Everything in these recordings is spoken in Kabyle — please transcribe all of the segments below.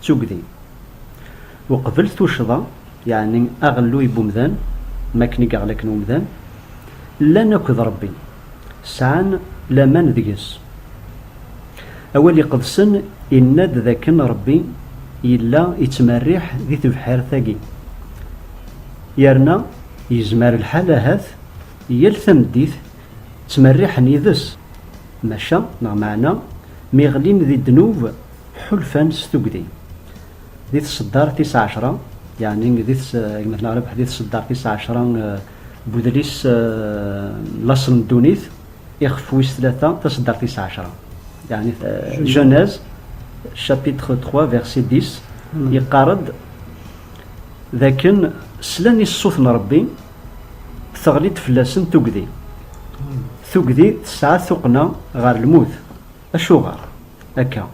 d tugdi. Uqbel tuccḍa, yeɛni aɣelluy n umdan, am wakken i yeɣlaqen umdan, llan akked Ṛebbi, sɛan laman deg-s. Awal Iqedsen yenna-d d akken Ṛebbi yella yettmerriḥ di tebḥirt-agi, yerna yezmer lḥal ahat yal tameddit ttmerriḥen yid-s, maca neɣ meɛna mi ɣlin di ddnub, Ḥulfan s tugdi. Di tseddar tis ɛecra, yeɛni di gma-tneɣ Rabeḥ, di tseddar tis ɛecra n udlis Laṣel n ddunit, ixef wis tlata, taseddart tis ɛecra, yeɛni Genèse chapitre trois verset dix, yeqqar-d d akken slan i ṣṣut n Ṛebbi, teɣli-d fell-asen tugdi. Tugdi tesɛa tuqqna ɣer lmut. Acuɣer akka?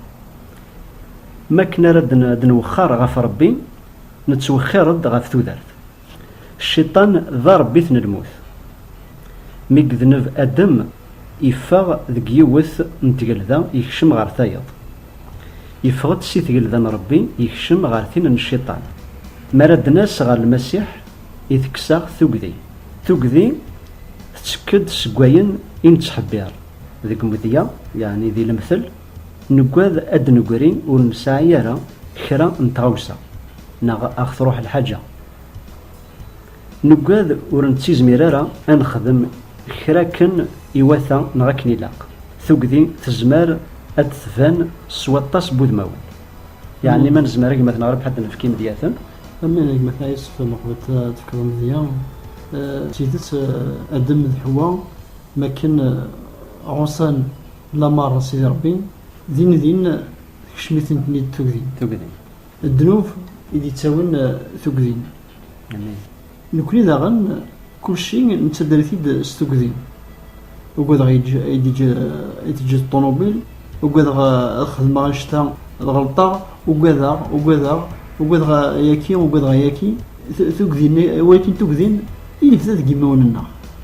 Mi akken ara d-nwexxar ɣef Ṛebbi, nettwexxir-d ɣef tudert. Cciṭan d aṛebbit n lmut. Mi yedneb Adem, yeffeɣ deg yiwet n tgelda yekcem ɣer tayeḍ. Yeffeɣ-d si tgelda n Ṛebbi yekcem ɣer tin n Cciṭan. Mi ara d-nas ɣer Lmasiḥ, itekkes-aɣ tugdi. Tugdi tettekk-d seg wayen i nettḥebbiṛ. Deg umedya, yeɛni di lemtel, nuggad ad d-negri ur nesɛi ara kra n tɣawsa, neɣ a ɣ-truḥ lḥaǧa. Nuggad ur nettizmir ara a nexdem kra akken iwata neɣ akken ilaq. Tugdi tezmer ad d-tban s waṭas n wudmawen. Yeɛni ma nezmer agmat neɣ rrbeḥ ad d-nefk imedyaten. Aman agmat-a yessefk ad neqbel tafekka n umedya d tidet, Adem d Ḥewwa. Mi akken ɛuṣan lameṛ n Sidi Ṛebbi, din din tekcem-itent-id tugdi. Tugdi. Ddnub i d-ittawin tugdi. Amin. Nekkni daɣen kulci nettader-it-id s tugdi. Ugadeɣ ay d-teǧǧ ṭṭunubil, ugadeɣ ad xedmeɣ anect-a ad ɣelṭeɣ, ugadeɣ, ugadeɣ, ugadeɣ ayaki, ugadeɣ ayaki. Tugdi, walakin tugdi i nebda deg yimawen-nneɣ.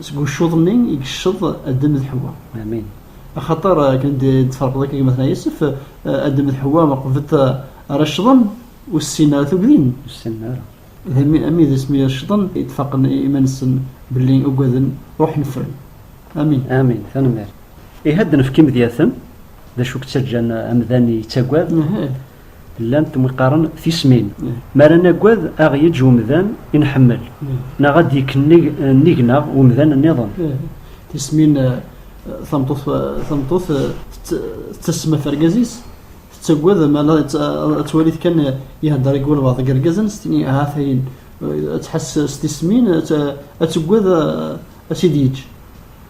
Seg uccuḍ-nni i yecceḍ Adem d Ḥewwa. Amin. Axaṭer akken d-tferqeḍ akka gma-tneɣ Yusef, Adem d Ḥewwa qbet ara ccḍen, ur ssinen ara tugdin. Ur ssinen ara. D amin d asmi ara ccḍen i d-faqen iman-nsen belli ugaden, ruḥen ffren. Amin. Amin. Tanemmirt. Ihi ad d-nefk imedyaten, d acu i yettaǧǧan amdan yettagad? Llan temqaren tismin. Mi ara nagad, a ɣ-yeǧǧ umdan i nḥemmel, neɣ ad d-yekneg nnig-neɣ umdan nniḍen. Tismin, Tameṭṭut tettasem ɣef urgaz-is, tettagad ma ad twali kan ihedder i walbaɛḍ deg yirgazen, s tin ahat ayen ad tḥess s tismin ad tagad ad tt-id-yeǧǧ.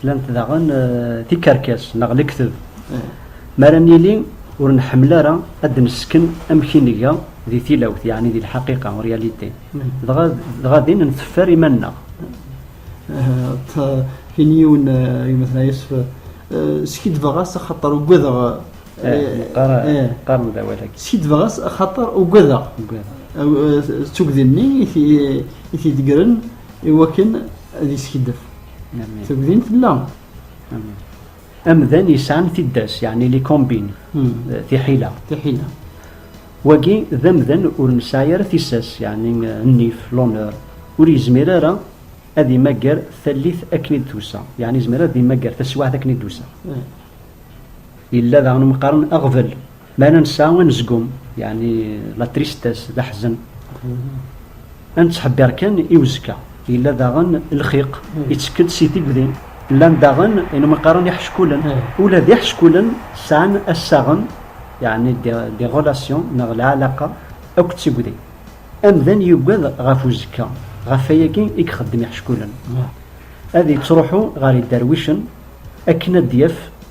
Tlamt daɣen tikerkas neɣ lekdeb. Mi ara nili ur nḥemmel ara ad d-nesken amek i nga di tilawt, yeɛni di lḥaqiqa, en réalité, dɣa din nteffer iman-nneɣ. Tin yiwen gma Tnayesf, Skiddbeɣ-as axaṭer ugadeɣ. Qqaren-d awal-agi. Skiddbeɣ-as axaṭer ugadeɣ. D tugdi-nni i t-id-ggren i wakken ad iskiddeb. Tebdin fell-aɣ. Amdan yesɛan tiddas, yeɛni li kombin, hmm. eh, tiḥila. Tiḥila. Wagi d amdan ur nesɛi ara tissas, yeɛni eh, nnif, l'honneur, ur yezmir ara ad imagger tallit akken i d-tusa, yeɛni yezmir ad imagger taswiɛt akken i d-tusa. Hmm. Yella daɣen mqaren aɣbel. Mi ara nesɛa anezgum, yeɛni la tristesse, d aḥzen, ad nettḥebbiṛ kan i uzekka. Yella daɣen lxiq ittekk-d si tigdi. Llan daɣen ayen umi qqaren iḥeckulen. Ula d iḥeckulen sɛan assaɣen, yeɛni des relations neɣ lɛalaqa akked tigdi. Amdan yugad ɣef uzekka, ɣef wayagi i ixeddem iḥeckulen. Ad yettruḥu ɣer iderwicen akken ad d-yaf.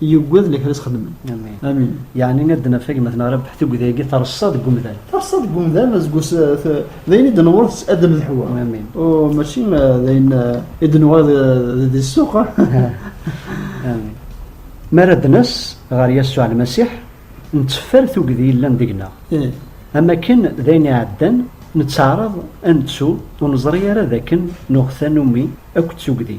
Yuggad lekra sxedmen. Amin. Amin. Yeɛni ad d-naf agmat neɣ rabeḥ tugdi-agi terṣa deg umdan. Terṣa deg umdan, azgus d ayen i d-newweḍ s Adam d Ḥwa. Amin. U mačči d ayen i d-nuɣal di ssuq. Amin. Mi ara d-nas ɣer Yasuɛ Lmasiḥ, netteffer tugdi yellan deg-neɣ. Am akken d ayen iɛeddan, netteɛraḍ ad nettu ur neẓri ara d akken nuɣ tanumi akked tugdi.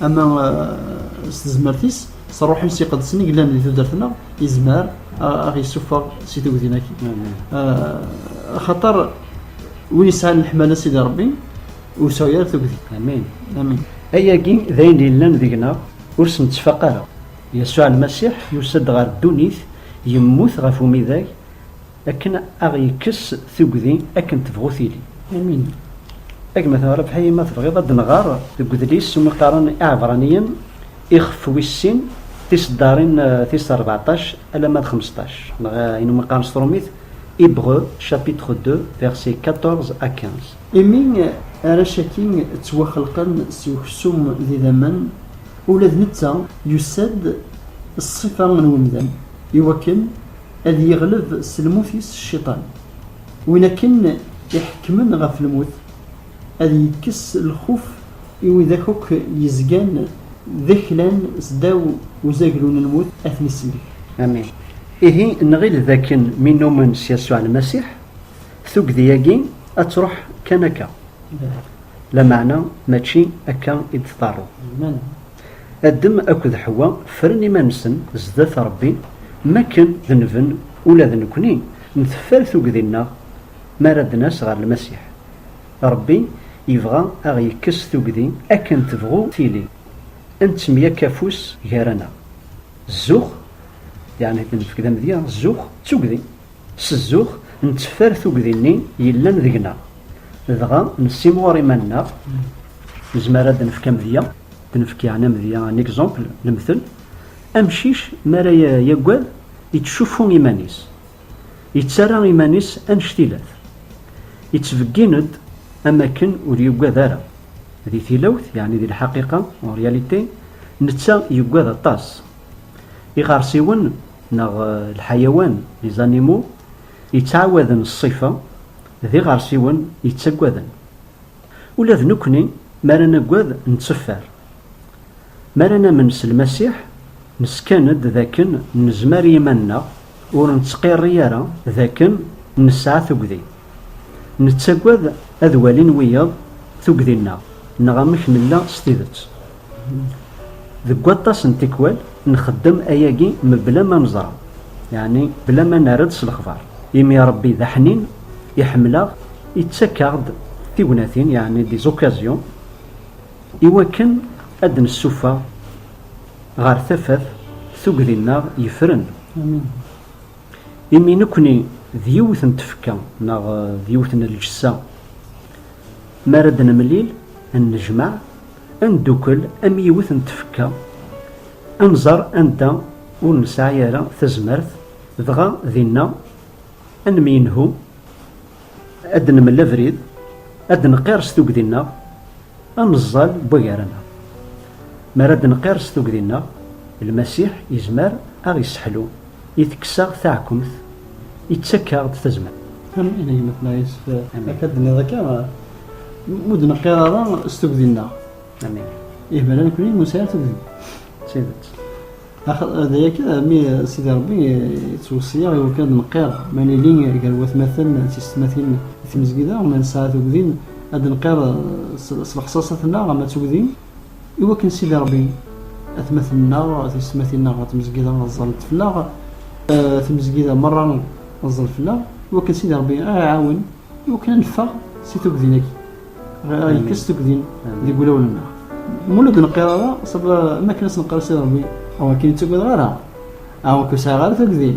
ama eh, s tezmert-is s ṛṛuḥ-is iqedsen i yellan di tudert-nneɣ yezmer eh, ad ɣ-yessufeɣ si tugdin-agi eh, axaṭer win yesɛan leḥmala sidi ṛebbi ur sɛu ara tugdi amin amin ayagi d ayen yellan deg-neɣ ur s-nettfaq ara yasuɛ lmasiḥ yusa-d ɣer ddunit yemmut ɣef umidag Akken a ɣ-yekkes tugdi akken tebɣu tili. Amin. A gma Rabaḥi ma tebɣiḍ ad d-nɣer deg udlis umi qqaren Iɛebraniyen ixef wis sin tiseddarin tis rbeɛṭac alamma d xmesṭac, neɣ ayen umi qqaren s trumit Hébreux chapitre deux versets quatorze à quinze. Imi arrac-agi ttwaxelqen s uksum d idammen, ula d netta yusa-d ṣṣifa n umdan, iwakken. ad yeɣleb s lmut-is cciṭan. Win akken iḥekkmen ɣef lmut, ad yekkes lxuf i widak akk yezgan d aklan sdaw uzaglu n lmut, ad ten-isellek. Amin. Ihi, nɣil d akken mi nnumen s Yasuɛ Lmasiḥ, tugdi-agi ad truḥ kan akka. Lameɛna mačči akka i d-tḍerru. Adem akked Ḥewwa ffren iman-nsen zdat Ṛebbi, m akken d nven, ula d nekkni nteffer tugdi-nneɣ mi ara d-nas ɣer Lmasiḥ. Ṛebbi yebɣa a ɣ-yekkes tugdi akken tebɣu tili, a nettemyakk afus gar-aneɣ. Zzux, yeɛni ad nefk d amedya, zzux d tugdi. S zzux, netteffer tugdi-nni yellan deg-neɣ, dɣa nessimɣur iman-nneɣ, nezmer ad d-nefk amedya, ad d-nefk yeɛni amedya, un exemple, lemtel, amcic mi ara yaggad, yettcuffu iman-is, yettarra iman-is annect-ilat, yettbeggin-d am akken ur yuggad ara. Di tilawt, yeɛni di lḥaqiqa, en réalité, netta yuggad aṭas. Iɣersiwen. neɣ lḥayawan, les animaux, yettɛawaden ṣṣifa, d iɣersiwen yettaggaden. Ula d nekkni mi ara naggad netteffer. Mi ara namen s Lmasiḥ, neskan-d d akken nezmer i yiman-nneɣ, ur nettqirri ara d akken nesɛa tuggdi. Nettaggad ad walin wiyaḍ tuggdi-nneɣ neɣ amek nella s tidet. Deg waṭas n tikwal, nxeddem ayagi mebla ma neẓra, yeɛni bla ma nerr-d s lexbar, imi Rebbi d aḥnin, iḥemmel-aɣ, ittak-aɣ-d tignatin, yeɛni des occasions, i wakken ad d-nessuffeɣ ɣer tafat tugdi-nneɣ yefren. Imi nekkni d yiwet n tfekka neɣ d yiwet n lǧessa, mi ara d-nemlil, nnejmaɛ, Ad neddukel am yiwet n tfekka, ad nẓer anda ur nesɛi ara tazmert, dɣa dinna ad nemyenhu, ad d-nemel abrid, ad d-nqirs tugdi-nneɣ, ad neẓẓal n wagar-nneɣ. Mi ara d-nqirs tugdi-nneɣ, Lmasiḥ yezmer ad aɣ-yesseḥlu I tekkes-aɣ taɛkumt, ittak-aɣ-d tazmert. Amin a yemma-tneɣ Yusef, akka d-tenniḍ akka, ur d-neqqir ara s tugdi-nneɣ. Amin. Ih, bala nekni ur nesɛi ara tugdi. D tidet. D aya kan, mi Sidi Rebbi yettweṣṣi-aɣ iwakken ad d-neqqir ma nili gar watmaten d tiysetmatin di tmezgida, ma nesɛa tugdi ad d-neqqir s lexṣaṣat-nneɣ ama d tugdi. I wakken Sidi Rebbi, atmaten-nneɣ, tiyesmatin-nneɣ ɣer tmezgida ẓẓalent fell-aɣ, tmezgida merra teẓẓel fell-aɣ, i wakken Sidi Rebbi a ɣ-iɛawen i wakken a neffeɣ si tuggdin-agi, a ɣ-yekkes tuggdin deg wulawen-nneɣ. Ma ur la d-neqqir ara, ṣṣaba am wakken a s-neqqar i Sidi Rebbi, aw akken i ttagadeɣ ara, aw akken ur sɛiɣ ara tuggdin.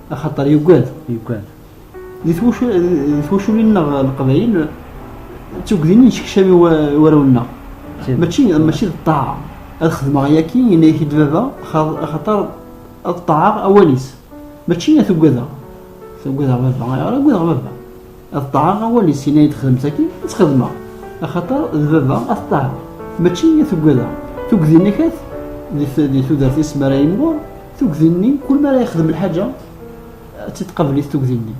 axaṭer yugad yugad di twacul-nneɣ leqbayel d tugdin yettkeččam i warraw-nneɣ mačči mačči d ṭṭaɛa ad xedmeɣ yaki yenna-ak-id baba axaṭer ad ṭṭaɛeɣ awal-is mačči ad tugadeɣ tugadeɣ baba ayɣer ugadeɣ baba Ateṭṭeɛ-a awal-is yenna-yi-d xdem-tt akin, ad tt-xedmeɣ. Axaṭer d baba ateṭṭeɛ, mačči i t-ugadeɣ. Tugdi-nni ahat di tudert-is mi ara yimɣur, tugdi-nni kul mi ara yexdem lḥaǧa ad tt-id-tqabel-it tugdi-nni.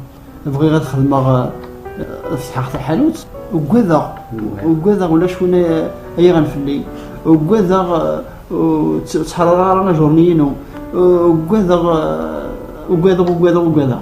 Bɣiɣ ad xedmeɣ ad fetḥeɣ taḥanut, ugadeɣ, ugadeɣ ulac win ad yaɣen fell-i, ugadeɣ ur ttḥarareɣ ara ajerni-inu, ugadeɣ, ugadeɣ, ugadeɣ, ugadeɣ.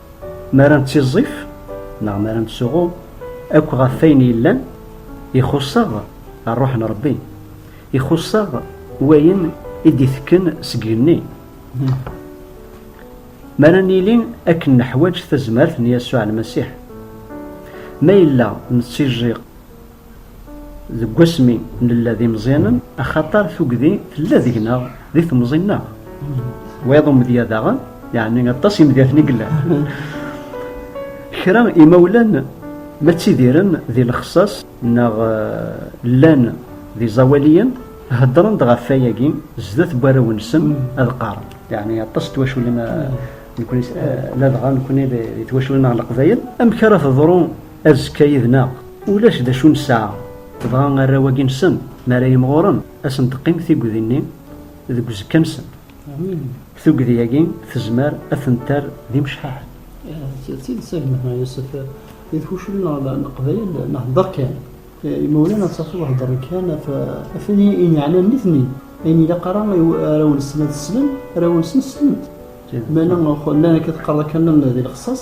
Mi ara nettiẓẓif neɣ mi ara nettsuɣu akk ɣef wayen yellan, ixuṣṣ-aɣ Ṛṛuḥ n Ṛebbi, ixuṣṣ-aɣ wayen i d-itekken seg igenni. Mi ara nili akken neḥwaǧ tazmert n Yasuɛ Lmasiḥ, ma yella nettiẓẓif, Deg wasmi nella d imeẓyanen, axaṭer tugdi tella deg-neɣ di temẓi-nneɣ. Wayeḍ umedya daɣen, yeɛni aṭas imedyaten i yellan. Kra imawlan ma ttidiren di lexsas neɣ llan d iẓawaliyen, heddren-d ɣef wayagi zdat n warraw-nsen ad qqaren. Yeɛni aṭas n twaculin, nekkni ladɣa nekkni d twaculin-nneɣ n Leqbayel. Amek ara teḍru? Azekka yid-neɣ ulac d acu nesɛa, dɣa arraw-agi-nsen mi ara yimɣuren, ad sen-teqqim tigdi-nni deg uzekka-nsen. Tugdi-agi tezmer ad ten-terr d imecḥaḥen. D tidet a gma Yusef, di tkucul n leqbayel nhedder kan, imawlan ad tafeḍ heddren kan ɣef wayen i yeɛnan nitni, ayen ilaq ara i arraw-nsen ad slen, arraw-nsen slen-t. Meɛna llan akka teqqareḍ akka llan di lexṣaṣ.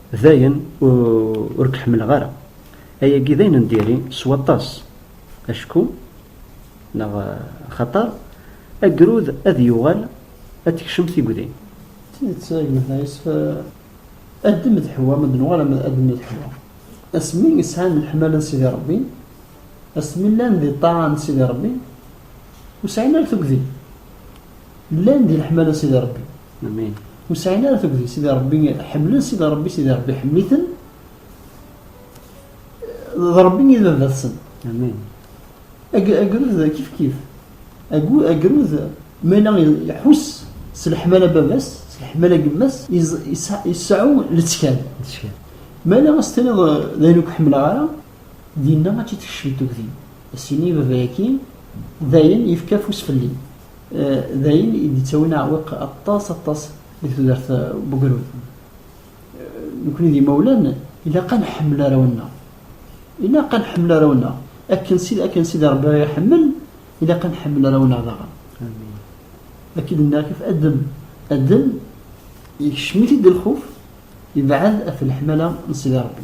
Dayen ur k-ḥemmleɣ ara. Ayagi d ayen n diri s waṭas, acku neɣ axaṭer agrud ad yuɣal ad tekcem tigdi. D tidet a gma Taɛis, addem d Ḥewwa, ma d nuɣal addem d Ḥewwa, asmi i sɛan leḥmala n Sidi Ṛebbi, asmi llan di ṭṭaɛa n Sidi Ṛebbi, ur sɛin ara tugdi. Llan di leḥmala Sidi Ṛebbi. Amin. Ur sɛin ara tugdi Sidi Ṛebbi, ḥemmlen Sidi Ṛebbi, Sidi Ṛebbi iḥemmel-iten. D Ṛebbi i d baba-tsen. Amin. Agrud kif kif. Agrud ma yella iḥuss s leḥmala n baba-s, s leḥmala n yemma-s, iseɛɛu lettkal. Ma yella ad s-tiniḍ d ayen ur k-ḥemmleɣ ara, Dinna ad tt-id-tekcem tugdi, ad s-yini i baba-agi, d ayen yefka afus fell-i, d ayen i d-yettawin aɛewwiq aṭas aṭas deg tudert n ugrud. Nekkni d imawlan, ilaq ad nḥemmel arraw-nneɣ. Ilaq ad nḥemmel arraw-nneɣ. Akken akken Sidi Rebbi aɣ-iḥemmel, ilaq ad nḥemmel arraw-nneɣ daɣen. Akka i d-nniɣ kif Adem. Adem, ikcem-it-id lxuf, ibɛed ɣef leḥmala n Sidi Rebbi.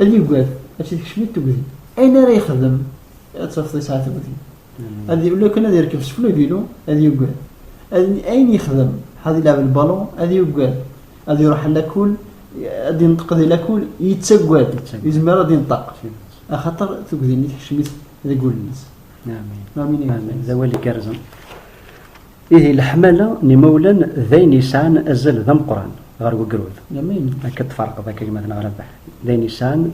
Ad yugad, ad tt-id-kecmit tugdi. Ayen ara yexdem, ad tafeḍ yesɛa tugdi. Ad yuli akken ad yerkeb seg uvilu, ad yugad. Ayen yexdem, ad yelɛeb lbalun, ad yugad. Ad iruḥ ɣer lakul, ad yenṭeq di lakul, yettagad, ur yezmir ara ad yenṭeq. Axaṭer tugdi-nni tekcem-it deg wul-nnes. Amin. Amin. D awal igerrzen. Ihi leḥmala n imawlan d ayen yesɛan azal d ameqqran ɣer wegrud. Akka tfarqeḍ akka gma neɣ Rabaḥ. D ayen yesɛan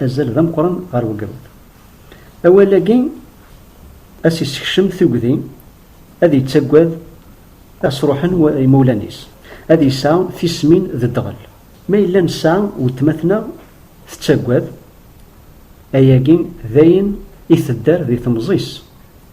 azal d ameqqran ɣer wegrud. Awal-agi a s-yessekcem tugdi ad yettagad a s-ruḥen imawlan-is, ad yesɛu tismin d ddɣel. Ma yella nesɛa weltma-tneɣ tettagad, ayagi d ayen i tedder di temẓi-s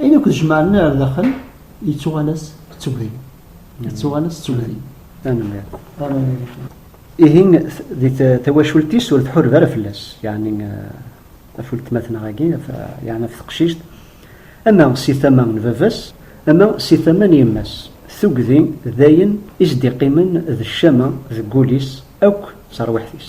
Ayen akk d-jemɛen ar daxel, yettuɣal-as d tugdi. Yettuɣal-as d tugdi. Tanemmirt. Tanemmirt. Ihi, di tawacult-is ur tḥureb ara fell-as, yeɛni ɣef weltmatneɣ-agi, yeɛni ɣef teqcict, ama si tama n baba-s, ama si tama n yemma-s. Tugdi d ayen i s-d-iqqimen d ccama deg wul-is akk d terwiḥt-is.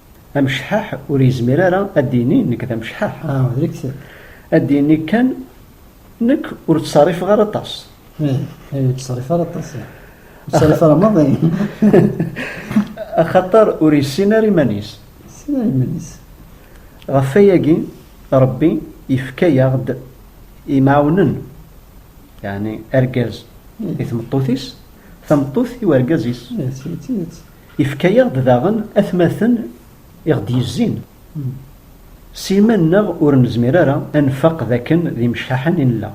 Amecḥaḥ ur yezmir ara ad d-yini nekk d amecḥaḥ. Ad d-yini kan nekk ur ttṣerrifeɣ ara aṭas. Ih, ur ttṣerrifeɣ ara aṭas. Ur ttṣerrifeɣ ara maḍi. Axaṭer ur yessin ara iman-is. Ɣef wayagi, Ṛebbi yefka-aɣ-d imɛawnen, yeɛni argaz i tmeṭṭut-is, tameṭṭut i urgaz-is. Ifka-yaɣ-d daɣen atmaten i ɣ-d-yezzin s yiman-nneɣ ur nezmir ara ad nfaq d akken d imecḥaḥen i nella.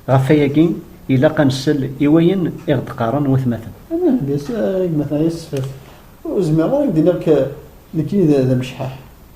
Ɣef wayagi ilaq ad nsel i wayen i ɣ-d-qqaren watmaten. Nniɣ-d i gma-tneɣ Yessefref, ur zmireɣ ara ad ak-d-iniɣ nekkini d amecḥaḥ.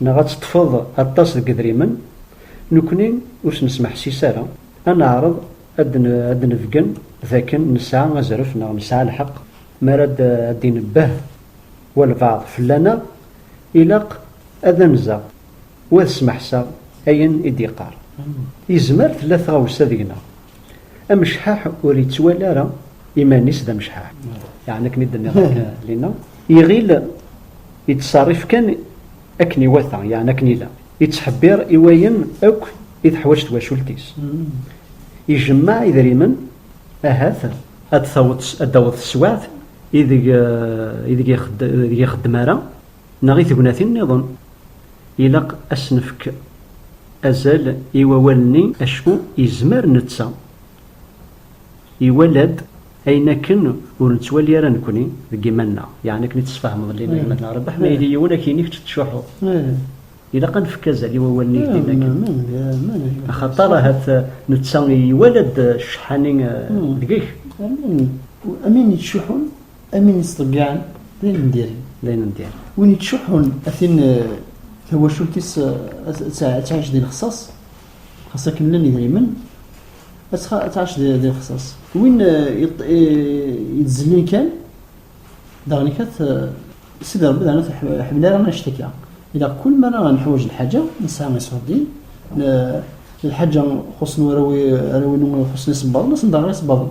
Neɣ ad teṭṭfeḍ aṭas deg yedrimen, nekkni ur s-nesmeḥsis ara, ad neɛreḍ ad d-nebgen d akken nesɛa azref neɣ nesɛa lḥeqq. Mi ara d-inebbeh walbeɛḍ fell-aneɣ, ilaq ad anzeɣ u ad smeḥseɣ ayen i d-yeqqar. Yezmer tella tɣawsa deg-neɣ. Amecḥaḥ ur ittwali ara iman-is d amecḥaḥ, yeɛni akken i d-nniɣ akka lina, iɣil yettṣerrif kan akken iwata, yeɛni akken ilaq, yettḥebbiṛ i wayen akk i teḥwaǧ twacult-is, ijemmeɛ idrimen ahat ad d-taweḍ teswiɛt ideg ixeddem ara. Neɣ i tegnatin nniḍen, ilaq ad s-nefk azal i wawal-nni acku yezmer netta iwala-d ayen akken ur nettwali ara nekkni deg yiman-nneɣ, yeɛni akken i tt-tesfehmeḍ lli n ayemmat-nneɣ, Rebbeḥ ma yili yiwen ad k-yini kečč tettcuḥḥuḍ. Ilaq ad nefk azal i wawal-nni yeldin akken, axaṭer ahat netta iwala-d cceḥḥa-nni deg-k. Amin yettcuḥḥun Amin yettḍeyyiɛen d ayen n diri. D ayen n diri. Win yettcuḥḥun a tin eh, tawacult-is eh, ad tɛic di lexṣaṣ, xas akken llan idrimen, ad tɛic di lexṣaṣ. Win yettzelin kan, daɣen ikat Sidi Rebbi daɣen ur iḥemmel ara annect akka. Ilaq kul mi ara neḥwaǧ lḥaǧa, nesɛa iṣuṛdiyen, lḥaǧa xuṣṣen warraw-inu, xuṣṣen isebbaḍen, asen-d aɣer isebbaḍen.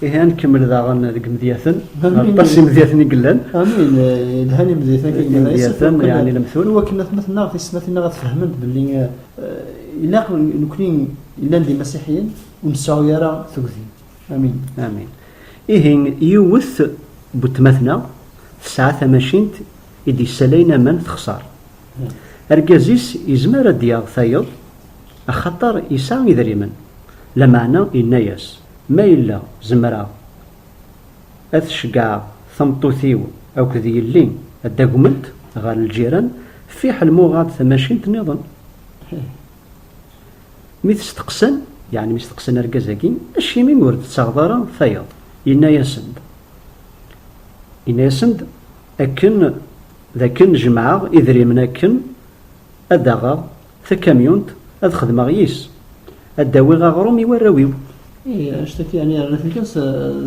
Ihi ad nkemmel daɣen deg imedyaten, aṭas imedyaten i yellan. Amin, yelhan imedyaten i yellan. Imedyaten, yani lemtul. I wakken atmaten-nneɣ, tismatin-nneɣ ad fehment belli eh, ilaq nekni yellan d imasiḥiyen ur nseɛɛu ara tugdi. Amin. Amin. Ihi yiwet butmatna tesɛa tamacint i d-yessalayen aman texṣer. Hmm. Argaz-is yezmer ad d-yaɣ tayeḍ axaṭer yesɛa idrimen. Lameɛna yenna-yas. Ma yella zemreɣ ad t-ceggɛeɣ tameṭṭut-iw akked yelli ad d-agment ɣer lǧiran, fiḥel ma uɣeɣ-d tamacint nniḍen. Mi t-steqsan, yeɛni mi steqsan argaz-agi, acimi ur d-tettaɣeḍ ara tayeḍ? Yenna-yasen-d, yenna-yasen-d akken d akken jemɛeɣ idrimen akken ad d-aɣeɣ Takamyunt ad xedmeɣ yis. Ad d-awiɣ aɣrum i warraw-iw. Ihi anect akka yani rnat kan s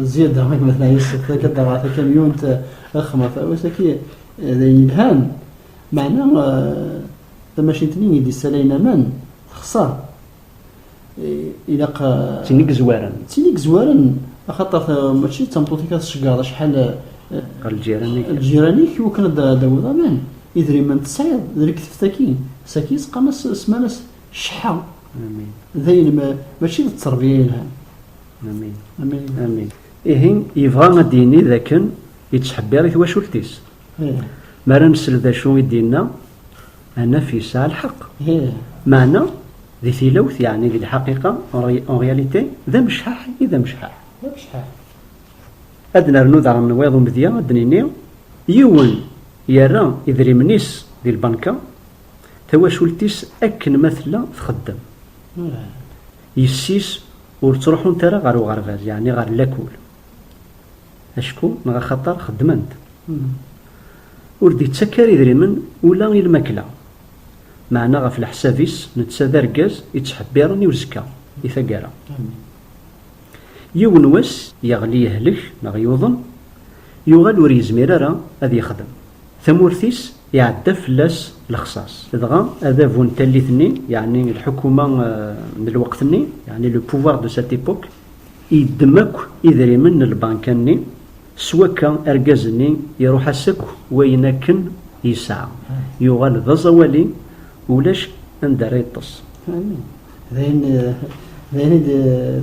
zzyada i gma teɛyis akka d ɣer takamyunt ad xedmeɣ tarawit aki d ayen yelhan meɛna tamacint-nni i d-yessalayen aman texṣer. ilaq d tin i yezwaren d tin i yezwaren axaṭer mačči d tameṭṭut-ik ad tceggeḍ acḥal ɣer ljiran-ik ljiran-ik iwakken ad d-tawiḍ aman idrimen tesɛiḍ d lektebt akkin sakin seqqan-as smanas cḥa d ayen mačči d tterbiya yelhan amin amin amin ihi yebɣa ad d-yini d akken yettḥebbiṛ i twacult-is mi ara nsel d acu i d-yenna ad naf yesɛa lḥeqq meɛna Di tilawt, yeɛni di lḥaqiqa, en réalité, d amecḥaḥ i d amecḥaḥ. D amecḥaḥ. Ad nernu daɣen wayeḍ umedya ad d-nini, yiwen yerra idrimen-is di lbanka, tawacult-is akken ma tella txeddem. Yessi-s ur ttruḥunt ara ɣer uɣerbaz, yeɛni ɣer lakul, acku neɣ axaṭer xeddment. Ur d-ittak ara idrimen ula i lmakla, Meɛna ɣef leḥsab-is, netta d argaz i ttḥebbiren i uzekka, i taggara. Yiwen wass, yeɣli yehlek neɣ yuḍen, yuɣal ur yezmir ara ad yexdem. Tamurt-is iɛedda fell-as lexṣaṣ. Dɣa adabu n tallit-nni, yeɛni lḥukuma n lweqt-nni, yeɛni le pouvoir de cette époque, Yeddem akk idrimen n lbanka-nni, s wakka argaz-nni iruḥ-as akk wayen akken yesɛa, yuɣal d aẓawali, ulac anda ara yeṭṭes. Amin. D ayen, d ayen i d,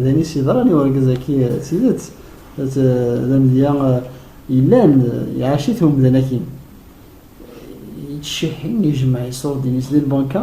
d ayen i s-yeḍran i urgaz-agi d tidet, d, d amedya yellan, iɛac-it umdan-agi. Yettcehhi, ijemmeɛ iṣurdiyen-is di lbanka,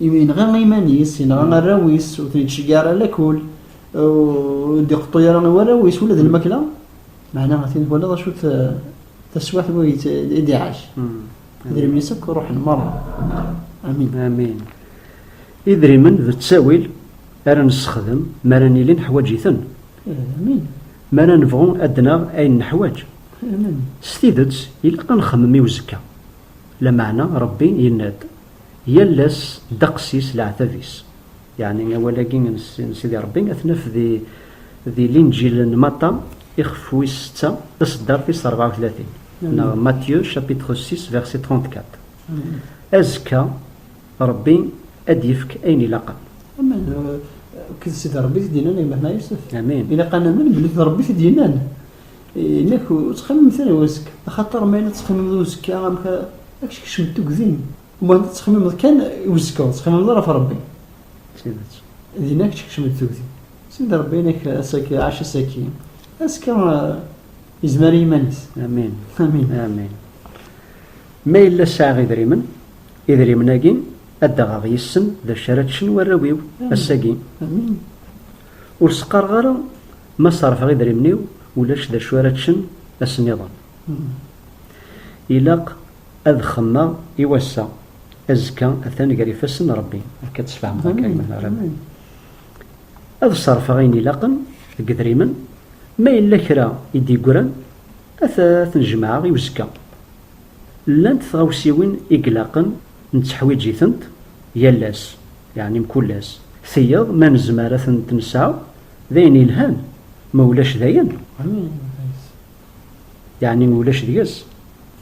Imi yenɣa iman-is, yenɣa arraw-is, ur ten-ittceggiɛ ara lakul, ur d-iqeṭṭu ara i warraw-is ula d lmakla, meɛna a-t-in twalaḍ acu taswiɛt mi i d-iɛac. Idrimen-is akk ruḥen merra. Amin. Amin. Idrimen d ttawil ara nessexdem mi ara nili neḥwaǧ-iten. Amin. Mi ara nebɣu ad d-naɣ ayen neḥwaǧ. Amin. S tidet, ilaq ad nxemmem i uzekka. Lameɛna Ṛebbi yenna-d, Yal ass ddeqs-is leɛtab-is. Yeɛni awal-agi n Sidi Ṛebbi ad t-naf di Linǧil n Maṭa, ixef wis setta, taṣeddart tis ṛebɛa u tlatin, neɣ Matthieu chapitre six verset trente-quatre. Azekka, Ṛebbi ad d-yefk ayen ilaqen. Amen! Kked Sidi Ṛebbi i t-id-yennan gma Ḥmed Yusef. Amen! Ilaq ad namen belli d Ṛebbi i t-id-yennan. Nek ur ttxemmimet ara i wazekka, axaṭer ma yella ttxemmimeḍ i uzekka amek ara ak-skecment tugdi-m, umahent ad ttxemmimeḍ kan i uzekka ur ttxemmimeḍ ara ɣef Rebbi. Tidet, dinna ad k-skecment tugdi. Send Rebbi inek ass-agi, ɛac ass-agi, azekka yezmer i yiman-is. Amin. Amin. Amin. Ma yella sɛiɣ idrimen, idrimen-agi ad d-aɣeɣ yis-sen d acu ara ččen warraw-iw ass-agi. Amin. Ur s-qqareɣ ara ma ṣerrfeɣ idrimen-iw ulac d acu ara ččen ass nniḍen. Ilaq ad xemmeɣ i wass-a, azekka atan gar ifassen n Rebbi. Akka ad tesfehmeḍ akka i Mhenni Rebbi. Ad ṣerrfeɣ ayen ilaqen deg idrimen, ma yella kra i d-yeggran ad ten-jemɛeɣ i uzekka. Llant tɣawsiwin i ilaqen netteḥwiǧ-itent yal ass. Yeɛni mkul ass. Tiyeḍ ma nezmer ad tent-nesɛu d ayen yelhan, ma ulac dayen. Yeɛni ma ulac deg-s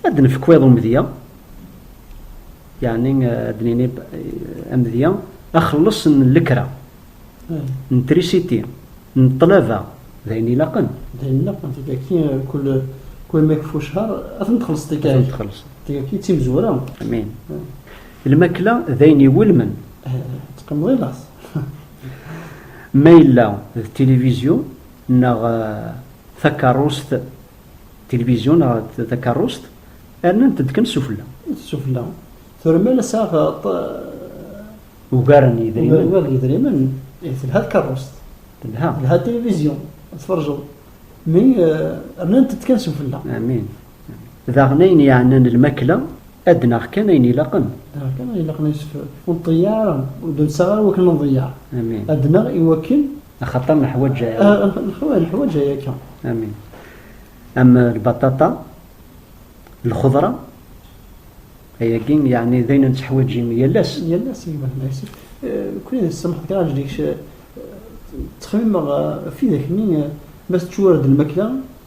ad d-nefk wiḍ umedya, yeɛni ad d-nini amedya axelleṣ n lekra, n trisiti, n ṭṭlaba, d ayen ilaqen. D ayen ilaqen, tigaki kul kul ma yekfa ucehar ad tent-txellṣeḍ tigaki. Tigaki d timezwura. Amin. Lmakla d ayen iwulmen. Teqqimeḍ i laẓ. Ma yella d tilivizyu neɣ takeṛṛust, tilivizyu neɣ takeṛṛust, rnan-tent kan sufella. Sufella. Tura ma la sɛiɣ ugar n yedrimen. Ugar n yedrimen, ihi telha tkeṛṛust. Telha. Telha tilivizyu, ad tferjeḍ. Mi rnant-tent kan sufella. Amin. Daɣen ayen yeɛnan lmakla, ad d-naɣ kan ayen ilaqen. Naɣ kan ayen ilaqen yessefra. Ur nḍeyyeɛ ara, ur d-nessaɣ ara wakken nḍeyyeɛ. Amin. Ad d-naɣ i wakken. Axaṭer neḥwaǧ aya. Neḥwaǧ, neḥwaǧ aya akka. Amin. Am lbaṭaṭa, lxeḍra, ayagi yeɛni d ayen nettḥwaǧ yal ass. Yal ass, gma d asif. Kuli d ssemḥ kra ajdikc, ttxemmimeɣ ɣef widak-nni, ma teččur-d lmakla,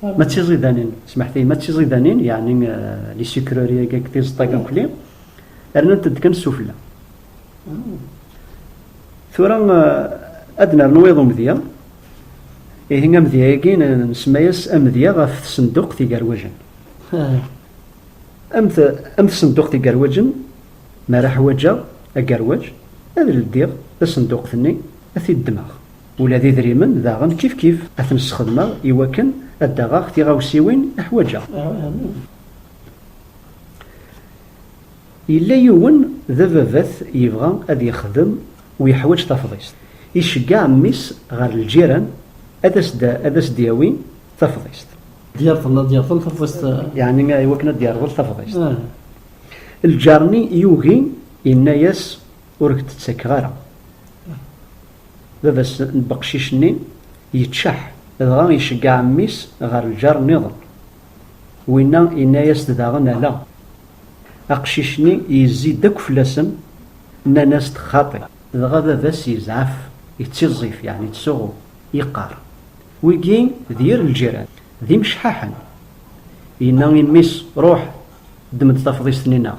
Ma d tiẓidanin, smeḥti, ma d tiẓidanin, yeɛni li sikrori agi akked tizeṭṭagi akkli, rnant-d kan sufella. Tura ad nernu iḍ umedya, ihi amedya-agi nsemma-yas amedya ɣef tsenduqt igarwajen. Am tsenduqt igarwajen, mi ara ḥwaǧeɣ agarwaj, ad ldiɣ tasenduqt-nni, ad t-id-ddmeɣ. Ula d idrimen daɣen kifkif, ad ten-sxedmeɣ i wakken ad d-aɣeɣ tiɣawsiwin i ḥwaǧeɣ. Yella yiwen d ababat yebɣa ad yexdem u yeḥwaǧ tafḍist. Iceggeɛ mmi-s ɣer lǧiran ad as-d-yawi tafḍist. Ad d-yerḍel tafḍist. Yeɛni i wakken ad d-yerḍel tafḍist. Lǧar-nni yugi, yenna-yas, Ur k-d-ttakeɣ ara. Baba-s n beqcic-nni yeččeḥ, dɣa iceggeɛ mmi-s ɣer lǧar nniḍen. Winna yenna-yas-d daɣen ala. Aqcic-nni yezzi-d akk fell-asen, nnan-as-d xaṭi. Dɣa baba-s yezɛef, yettiẓẓif, yeɛni yettsuɣu, yeqqar, Wigi d yir lǧiran, d imecḥaḥen! Yenna i mmi-s, Ruḥ, ddem-d tafḍist-nni-nneɣ.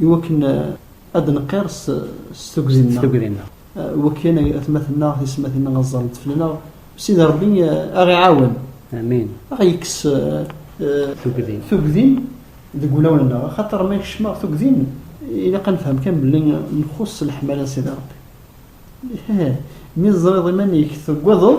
I wakken ad d-neqqir s tugdi-nneɣ, wek yan atmaten-nneɣ, tismatin-nneɣ ad ẓrent fell-aneɣ, Sidi Rebbi a ɣ-iɛawen, a ɣ-yekkes tugdi deg wulawen-nneɣ, axaṭer ma kecmeɣ tugdi, ilaq ad nefhem kan belli nxus s leḥmala n Sidi Rebbi. Ih, mi teẓriḍ iman-ik teggadeḍ.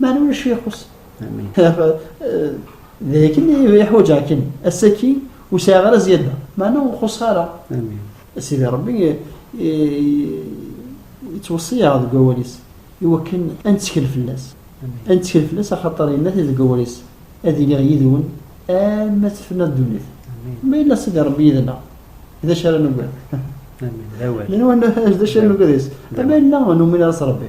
Mani ulac ixus. D akken iḥwaǧeɣ kan ass-agi ur sɛiɣ ara ziyada. Mani ur xuṣṣeɣ ara. Sidi Ṛebbi yettweṣṣi-aɣ deg wawal-is i wakken ad nettkel fell-as. Ad nettkel fell-as axaṭer yenna-t deg wawal-is, Ad iliɣ yid-wen arma tefna ddunit. Ma yella Sidi Ṛebbi yid-neɣ, d acu ara nugad? D acu ara nugad yes? Ma yella ur numin ara s Ṛebbi,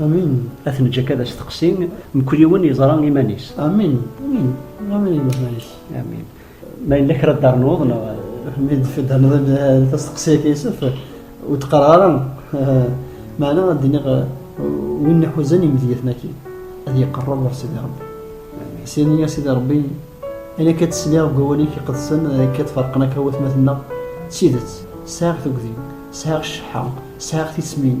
Amin. Ad t-neǧǧ akka d asteqsi, mkul yiwen yeẓra iman-is. Amin. Amin. Amin iman-is. Amin. Ma yella kra d-darnuḍ neɣ... Mi d-darnuḍ tasteqsi-agi Yusuf, ur d-qqareɣ ara. Meɛna ad d-iniɣ win iḥuzan imedyaten-agi, ad yeqreb ɣer Sidi Rebbi. Syen i Sidi Rebbi, ayen akka d-tesliɣ deg wawal-ik iqedsen, akka d-ferqen akka watmaten-nneɣ, d tidet, sɛiɣ tugdi, sɛiɣ cceḥḥa, sɛiɣ tismin,